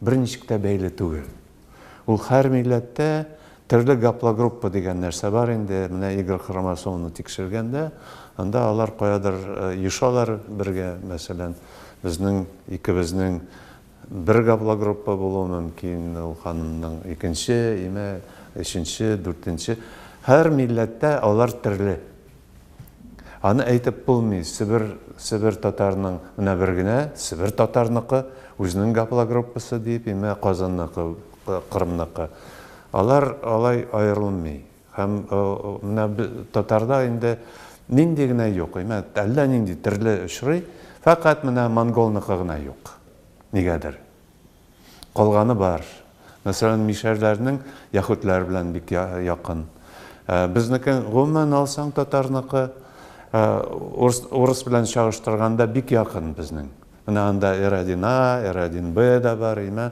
Берничек тә бәйле түгел. Ул хәр милләттә төрле гаплогруппа дигән нәрсә бар инде, менә Игорь хромосоманы тикшергәндә, анда алар каядыр ешалар бергә, мәсәлән, безнең икебезнең бер гаплогруппа булуы мөмкин, ул ханымның икенче, имә өченче, дүртенче. Хәр милләттә алар төрле. Аны әйтеп булмый, Себер, Себер татарының менә бер генә, Себер татарныкы, үзенең гаплогруппасы дип, имә Казанныкы, Кырымныкы. Алар алай аерылмый. Һәм менә татарда инде нинди генә юк, имә әллә нинди төрле очрый, фәкать менә монголныкы гына юк. Нигәдер. Калганы бар. Мәсәлән, мишәрләрнең яһүдләр белән бик якын. Безнеке, гомумән алсаң, татарныкы урыс белән чагыштырганда бик якын безнең. Менә анда R1A, R1B да бар, имә,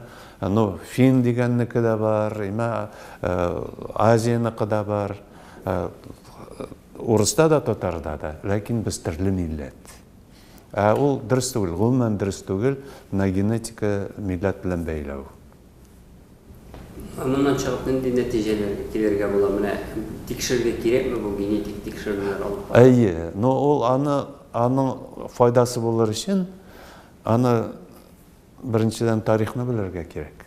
ну, фин дигәннеке дә бар, имә, Азияныкы да бар. Урыста да, татарда да, ләкин без төрле милләт. Ә ул дөрес түгел, гомумән дөрес түгел, менә генетика милләт белән бәйләү. Ә моннан чыгып нинди нәтиҗәләргә килергә була? Менә тикшерергә кирәкме бу генетик тикшерүләр алып бару? Әйе, но ул аны, аның файдасы булыр өчен, аны Беренчедән, тарихны белергә кирәк.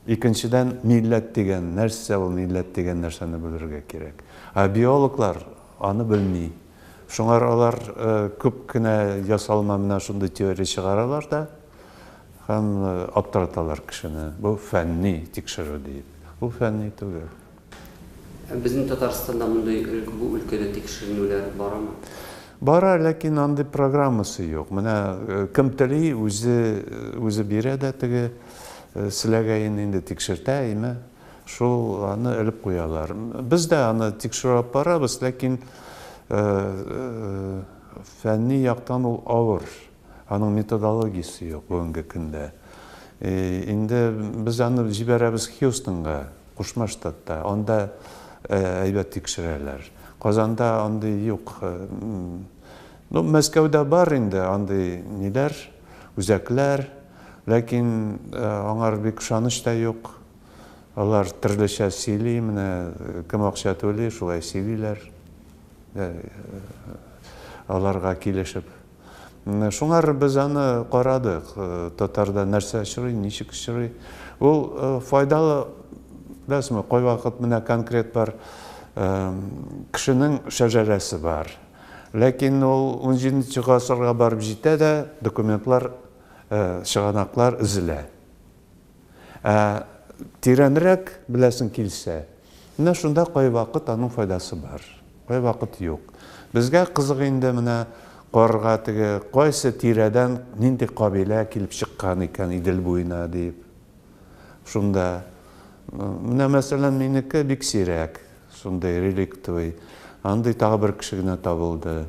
Икенчедән, милләт дигән нәрсә ул, милләт дигән нәрсәне белергә кирәк. Ә биологлар аны белми. Шуңа алар күп кенә ясалма менә шундый теория чыгаралар да һәм аптыраталар кешене. Бу фәнни тикшерү диеп. Бу фәнни түгел. Ә безнең Татарстанда мондый өлк, бу өлкәдә тикшеренүләр барамы? Бара, ләкин андый программасы юк. Менә кем тели, үзе, үзе бирә дә теге селәгәен инде тикшертә, әйме, шул аны элеп куялар. Без дә аны тикшерү алып барабыз, ләкин фәнни яктан ул авыр. Аның методологиясе юк бүгенге көндә. Инде без аны җибәрәбез Хьюстонга, Кушма Штатта. Анда әйбәт тикшерәләр. Казанда андый юк. Ну, Мәскәүдә бар инде андый ниләр, үзәкләр. Ләкин аңар бик ышаныч та юк. Алар төрлечә сөйли, менә кем акча түли, шулай сөйлиләр. Аларга килешеп. Шуңар без аны карадык, татарда нәрсә очрый, ничек очрый. Ул файдалы, беләсезме, кайвакыт менә конкрет бар кешенең шәжәрәсе бар. Ләкин ул 17 гасырга барып җитә дә, документлар, чыганаклар өзелә. Ә тирәнрәк беләсең килсә, менә шунда кайвакыт аның файдасы бар, кайвакыт юк. Безгә кызык инде менә карга теге кайсы тирәдән нинди кабилә килеп чыккан икән Идел буена дип. Шунда менә мәсәлән минеке бик сирәк, шундый реликтовый. Андый тагы бер кеше генә табылды.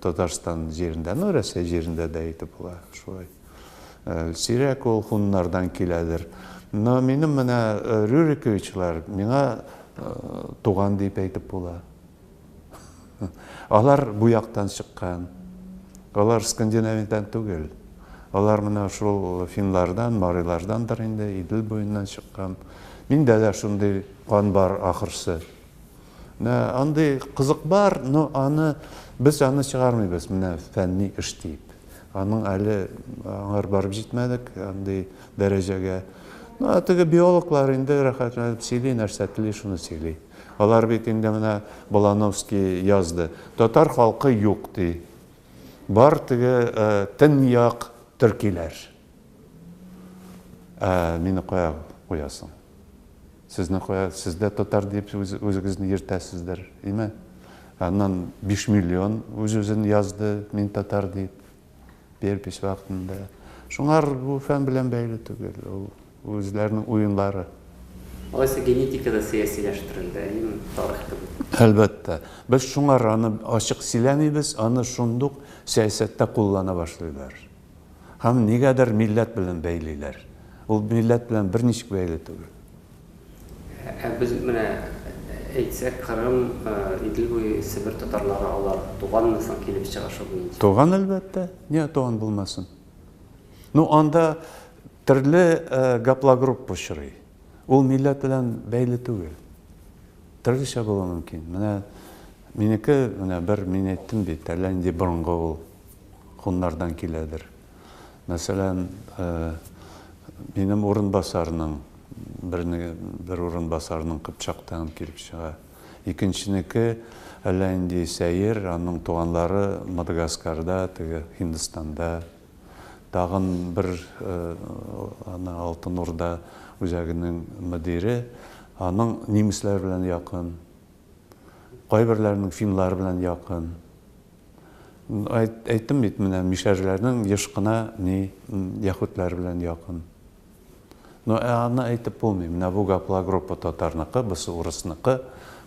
Татарстан җирендә, ну, Рәсәй җирендә дә әйтеп була шулай. Сирәк ул хуннардан киләдер. Но минем менә Рюриковичлар миңа туган дип әйтеп була. Алар бу яктан чыккан. Алар Скандинавиядан түгел. Алар менә шул финлардан, марилардандыр инде, Идел буеннан чыккан. Миндә дә шундый кан бар ахырсы. Менә андый кызык бар, но аны без аны чыгармыйбыз, менә фәнни эш дип. Аның әле аңар барып җитмәдек, андый дәрәҗәгә. Ну, теге биологлар инде рәхәтләнеп сөйли, нәрсә тели, шуны сөйли. Алар бит инде менә Балановский язды. Татар халкы юк, ди. Бар теге төньяк төркиләр. Ә мине кая куясың? Сезне кая? Сез дә татар дип үзегезне йөртәсездер, име? Аннан биш миллион үз-үзен язды, мин татар дип, перепись вакытында. Шуңар бу фән белән бәйле түгел, ул үзләренең уенлары. Алайса генетика да сәясиләштерелде, әйеме, тарих кебек? Әлбәттә. Без шуңар аны ачык сөйләмибез, аны шундук сәясәттә куллана башлыйлар. Һәм нигәдер милләт белән бәйлиләр. Ул милләт белән берничек бәйле түгел. Ә без менә әйтсәк, Кырым, Идел буе, Себер татарлары, алар туганмы соң килеп чыга шул буенча? Туган, әлбәттә. Нигә туган булмасын? Ну, анда төрле гаплогруппа очрый. Ул милләт белән бәйле түгел. Төрлечә булуы мөмкин. Менә минеке, менә бер мин әйттем бит, әллә нинди борынгы ул. куннардан киләдер. Мәсәлән, минем урынбасарның, бер урынбасарның Кыпчактан килеп чыга. Икенченеке әллә инде сәер, аның туганлары Мадагаскарда, теге Һиндстанда. Тагын бер ана Алтын Урда үзәгенең мөдире, аның немецләр белән якын. Кайберләренең финнар белән якын. Әйттем бит, менә мишәрләрнең еш кына ни яхүтләр белән якын. Но ә аны әйтеп булмый. Менә бу гапла группа татарныкы, бусы урысныкы,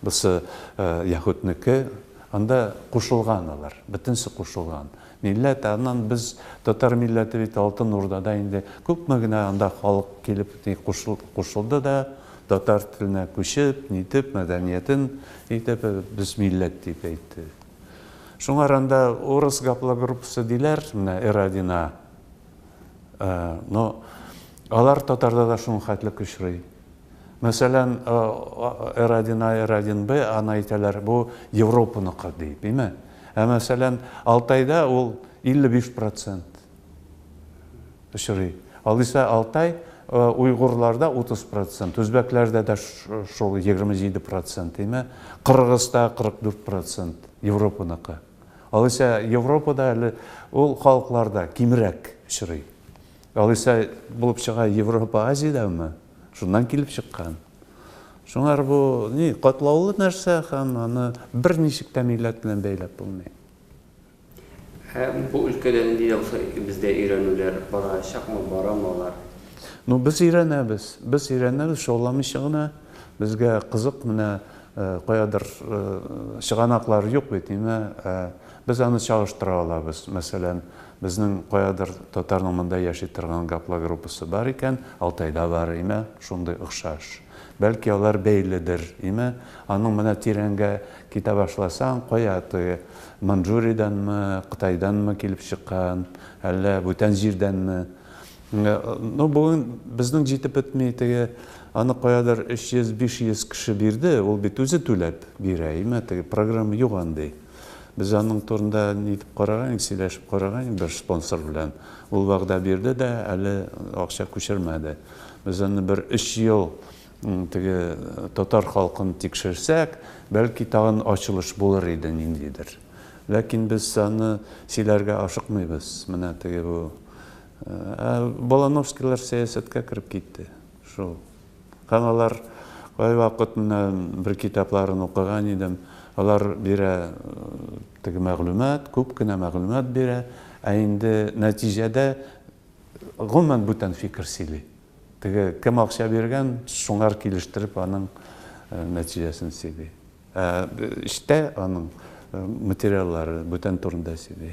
бусы яхүтнеке. Анда кушылган алар, бөтенесе кушылган. Милләт, аннан без татар милләте бит Алтын Урдада инде күпме генә анда халык килеп кушылды да, татар теленә күчеп, нитеп, мәдәниятен итеп, без милләт дип әйтте. Шуңар анда урыс гаплогруппасы диләр, менә Эрадина, но алар татарда да шуның хәтлек очрый. Мәсәлән, R один A, R один B аны әйтәләр, бу Европаныкы ди, дими. Ә мәсәлән, Алтайда ул 55 процент очрый. Алайса Алтай уйгурларда 30 процент, үзбәкләрдә дә шул 27 процент, дими. Кыргызда 44 процент Европаныкы. Алайса Европада әле ул халыкларда кимрәк очрый. Алайса булып чыга Европа Азиядәме? Шуннан килеп чыккан. Шуңар бу ни катлаулы нәрсә һәм аны берничек тә милләт белән бәйләп булмый. Ә бу өлкәдә нинди дә булса бездә өйрәнүләр барачакмы, барамы алар? Ну, без өйрәнәбез. Без өйрәнәбез, шауламыйча гына. Безгә кызык, менә каядыр чыганаклар юк бит, әмма Без аны чагыштыра алабыз. Мәсәлән, безнең каядыр татарның монда яши торган гаплогруппасы бар икән, Алтайда бар, име, шундый охшаш. Бәлки алар бәйледер, име? Аның менә тирәнгә китә башласаң, кая теге, Маньчжуриядәнме, Кытайданмы килеп чыккан, әллә бүтән җирдәнме? Ну, бүген безнең җитеп бетми, теге, аны каядыр өч йөз, биш йөз кеше бирде, ул бит үзе түләп бирә, име, теге программа юк андый. Без аның турында нитеп караган идек, сөйләшеп караган идек бер спонсор белән. Ул вәгъдә бирде дә, әле акча күчермәде. Без аны бер өч ел теге татар халкын тикшерсәк, бәлки тагын ачылыш булыр иде ниндидер. Ләкин без аны сөйләргә ашыкмыйбыз, менә теге бу. Ә Балановскийлар сәясәткә кереп китте. Шул. Каналар кайвакыт менә бер китапларын укыган идем. Алар бирә теге мәгълүмат, күп кенә мәгълүмат бирә, ә инде нәтиҗәдә гомумән бүтән фикер сөйли. Теге кем акча биргән, шуңар килештереп аның нәтиҗәсен сөйли. Ә эчтә аның материаллары бүтән турында сөйли.